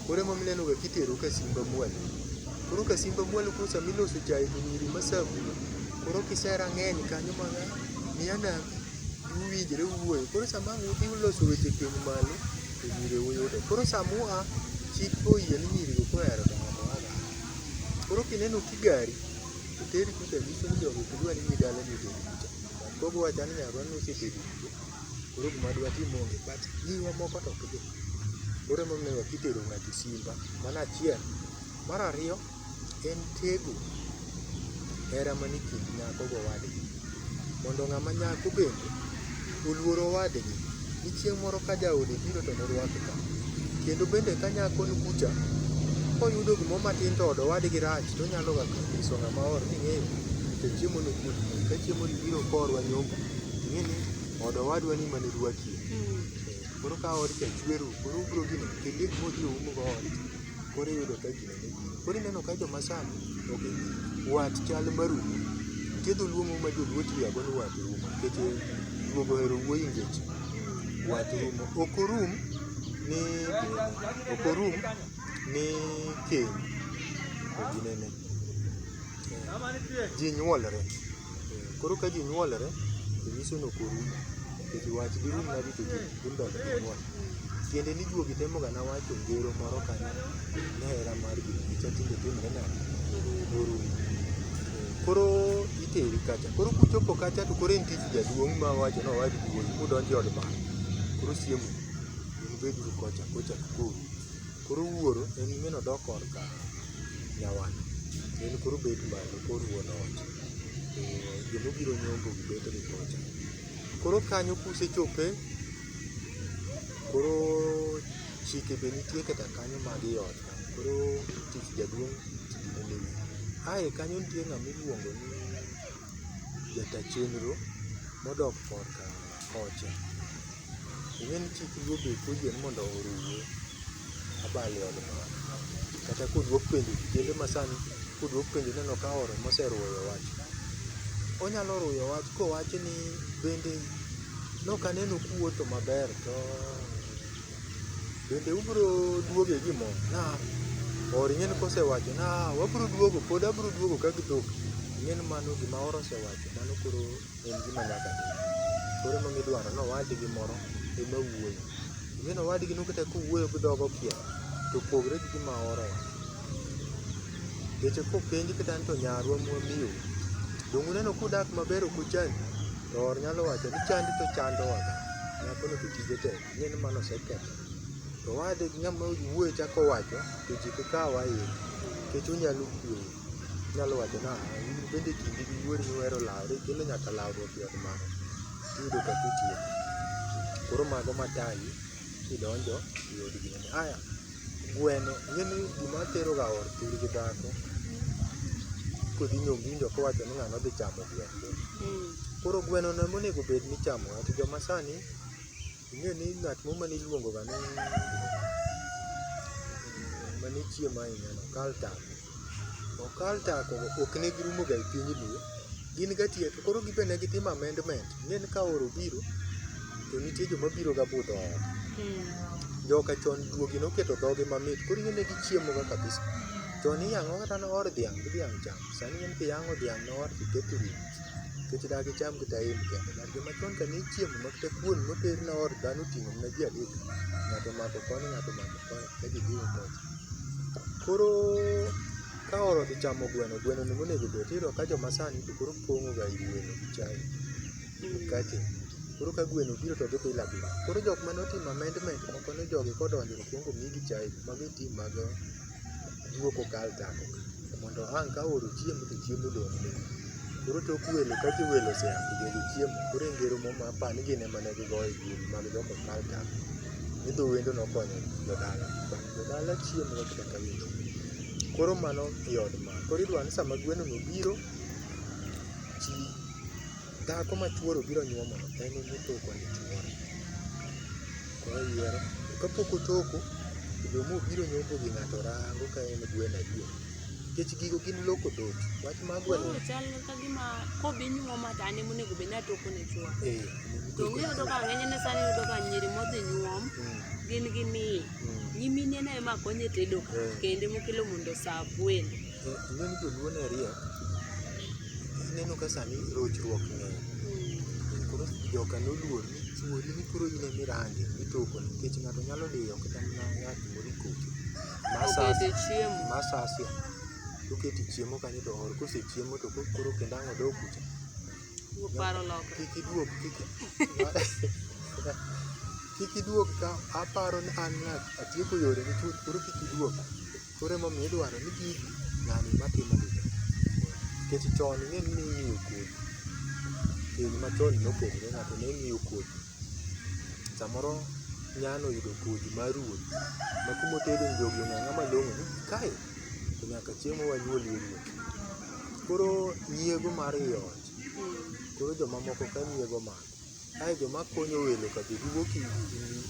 Koro ema mineno ga kitero ka simba mwalo. Koro ka simba mwalo koro sama iloso chae to nyiri ma sabu koro kisera ng'eny kanyo ma miya na uwinjre uwuoyo. Koro sama ang' udhi uloso weche piny malo to nyiri uyudo. Koro sama ua chik oyie ni nyiri go koro ohero dongo to waga. Koro kineno kigari to teri kucha nyiso ni jogi ok dwa ni idhi dalagi to Kogo wacha ni nyarwa nosebedo kuo, koro gima dwatim onge, but nyingwa moko to ok dhi. Koro emomiyo kitero ng'ato simba, mano achiel. Mar ariyo, en tego hera manie kind nyako gowadgi. Mondo ng'ama nyako bende oluor owadgi. ni chieng' moro ka jaode biro to norwake ka. Kendo bende ka nyako ni kucha, koyudo gimoro matin to od owadgi rach, to onyalo ga nyiso ng'ama oor ni ng'eyo to chiemo ni kuot. Ka chiemo ni biro korwa nyombo, ing'e ni od owadwa ni mane rwakie. Koro ka od cha chwer u, koro ubiro gino, kendo gik mobiro umo go ot, koro iyudo ka ji Koro ineno ka joma sani ok wat chal marumo. Nitie dholuo moro ma joluo tiyogago ni wat rumo nikech ruogo ohero wuoyo e ngeche. Wat rumo ok orum ni ok orum ni keny, ok ginene. Ji nyuolre. Koro ka ji nyuolre, to nyiso ni ok orum. Nikech wach dirum nadi to ji dhi mbele gi nyuol. Tiende ni juogi temo ga na wacho ngero moro kanyo ni hera mar ji cha tinde timre nade? Orumo. Koro iteri kacha. Koro kuchopo kacha to koro en tij jaduong' ma wacho ni owad duol kudonjo e od baba. Koro siemo un beduru kocha kocha koro. Koro wuoro en min odok korka nyawadu en koro obet malo koro wuon ot to joma obiro nyombo gi bet ni kocha. Koro kanyo kusechope koro chike be nitie kata kanyo mag ii ot ka. Koro tich jaduong' ae kanyo nitie ng'ama iluongo ni jata chenro modok korka kocha. Ing'e ni chik ruoth be puonjo ni mondo oruwe abal e od mama. Kata koduok penjo kijende ma sani koduok penjo ineno ka oro moseruyo wach. Onyalo ruyo wach kowacho ni bende nok aneno kuwuotho maber to bende ubro duoge gi mo? Na or ing'e ni kosewacho na wabro duogo pod abro duogo ka gi dhok ing'e ni mano gima or osewacho mano koro en gima nyaka tim. Koro ema midwaro ni owadgi moro ema wuoyo. Ineno owadgi no kata kowuoyo gi dhoge okiek to opogre gi gima ooro wach. Nikech kopenj kata ni to nyarwa ma wamiyo u, donge uneno ka udak maber ok uchandu? To or nyalo wacho ni chandi to chandowa ga. Nyakono to tije tek. Ing'e ni mano oseketho. To owadgi ng'ama wuoyo chako wacho to ji ok kaw ahinya nikech onyalo kuoyo. Inyalo wacho nang'o? In bende kinde gi wuori nuhero lawru kendo nyaka lawru obiod mano tiyudo ka kitieko. Koro mago matayi kidonjo e od gweno. Aya, gweno ing'e ni gima teroga or thur gi dhako kodhi nyombindo kowacho ni ng'ano dhi chamo gweno. Koro gweno no emonego bed ni ichamo. Ati joma sani Ing'e ni ng'at moro mane iluongo ga ni mane chiemo ahinya no Kaltak. To Kaltak ok ne girumo ga e piny Luo. Gin ga tie to koro gin be ne gitimo amendment. Ing'e ni ka oro obiro to nitie joma biro ga budho ot. Joka chon juogi noketo dhogi mamit koro ing'e ne gichiemo ga kabisa. Chon iyang'o kata noor dhiang' gi dhiang' cham. Sani ing'e ni kiyang'o dhiang' noor to iketo e wiye. Nikech dak icham gi Taim kende? Ng'at joma chon ka ne ichiemo mak ta kuon moter ne or dhano oting'o mna ji adek. Ng'ato omako koni, ng'ato omako koni, ka ji jiwo kocha. Koro ka or odhi chamo gweno, gweno no monego obed, tiyudo ka joma sani to koro pong'o ga i gweno gi chai, gi mkate. Koro ka gweno obiro to odhi bila bila. Koro jok mane otimo amendment moko ne jogi kodonjo to okuongo omigi chai, mago e team mage. jiwo kokal tako mondo ang' ka oro chiemo to chiemo odong' piny. Koro tok welo ka jowelo osea to jogi chiemo koro e ngero moro ma apani gin ema ne gigoyo e dier mag jok mokal tako ni dho wendo nokonyo jodala. Jodala chiemo ma kata ka welo. Koro mano e od ma. Koro idwaro ni sama gweno no obiro, chi Dhako ma chuore obiro nyuomo no en ema otoko ne chuore. Koro oyiero. To kapok otoko, to joma obiro nyombo gi ng'ato rango ka en gweno adier. Nikech gigo gin loko dhoot. Wach mar gweno. Koro chal ka gima kodhi nyuoma to an ema onego bed ni atoko ne chuora. Eh. To iyudo ka ng'enyne sani iyudo ka nyiri modhi nyuom Mm, gin gi miyo. mm. Nyimine no ema konyo e tedo ka Eh. kendo ema okelo mondo oserve welo. Ing'eyo ni joluo ne riek, ineno ka sani rochruok ng'eny. Koro joka noluor ni chuori ni koro in ema irange, itoko ne nikech ng'ato nyalo diyo kata mana yath moro ikoki. Ma Obed sasi, e chiemo. ma sasia. Toketi chiemo kanyo to ool kosechiemo to ko- koro kendo ang' odog kucha. Wuok paro loka. Kik iduog, kik kik iduog ka aparo ni an ng'a atieko yore ni chuth koro kik iduog. Koro emomiyo idwaro ni gigi ng'ani ema timo gi. Nikech chon ing'e ni ning'iyo kodhi, piny machon nopogore ng'ato ne ng'iyo kodhi. Samoro nyano oyudo kodhi mar ruoth ma kuma otede ni jogi ong'e ang'a malong'o ni kae to nyaka chieng' ma wanyuolie ruoth. Koro nyiego mar ii ot, koro jomamoko ka nyiego mano. Kae joma konyo welo ka be giwuok i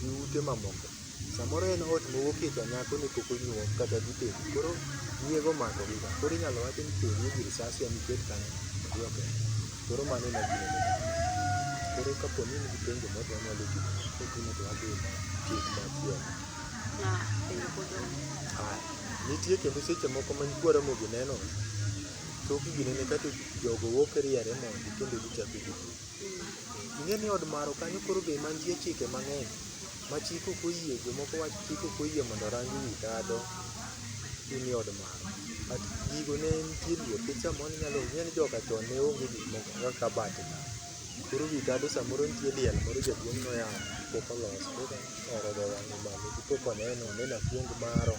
i ute mamoko. Samoro en ot mowuok e ka nyako ne pok onyuol kata gitedo. Koro nyiego omakogi ka. Koro inyalo wach ni to oneg gi risasi ema iket kanyo odhi oketho. Koro mano ema gima onego otim. Koro ka po ni in gi penjo moro to wanyalo dhi nyime. Ka ok in to wadhi e tieng' machielo. Na penjo pod onge. Aya. Nitie kendo seche moko ma nyikwa Ramogi nenore. Thoth gi nene ka to jogo wuok riere mondi kendo gichako gidhi. Ing'e ni od maro kanyo koro be mantie chike mang'eny ma chik ok oyie, jomoko wacho ni chik ok oyie mondo orang wi tado in e od maro. But gigo ne nitie luor nikech samoro ne inyalo ing'e ni joka chon ne onge gik moko kaka kabat ni. Koro wi tado samoro nitie liel moro jaduong' ne oyang'o pok olos koro oro dho yang'e malo to pok oneno, oneno akuong maro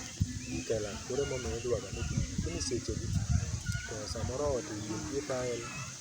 gi kela koro emomiyo idwaro ga ni lakini seche gi to samoro ot oyie gi tile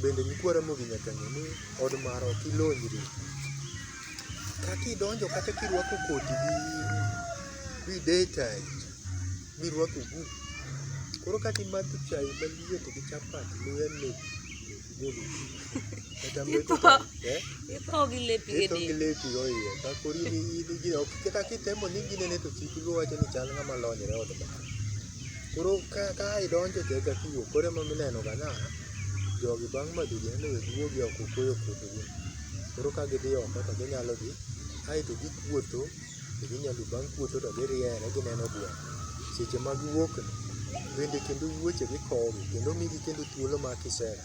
Bende nyikwa Ramogi nyaka ng'e ni od mara ok ilonyri. Kaka idonjo kata kirwako koti gi gi day tight mirwako ogudu. Koro kata imadho chai maliet gi chapat luya lep golo wiyi. Kata Itho. metho to- eh? Itho gi lepi e Ito gi del. lepi oiye. Ka kori ni in gine ok kata kitemo ni ginene to kik iwacho ni chal ng'ama lonyre od mara. Koro ka ka idonjo e jaga kiwuok koro ema mineno ga na jogi bang' madho ji nende weg wuogi oko okuoyo kuondgi. Koro ka gidhi oko to ginyalo dhi aeto gikuotho to ginyalo bang' kuotho to giriere gineno gweno. Seche ma giwuok ni bende kendo wuoche gikowo gi kendo migi kendo thuolo mar kisera.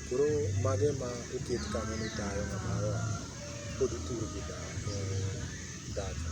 Koro mago ema oket kanyo ni tayo ng'ama oa kod pur gi daka.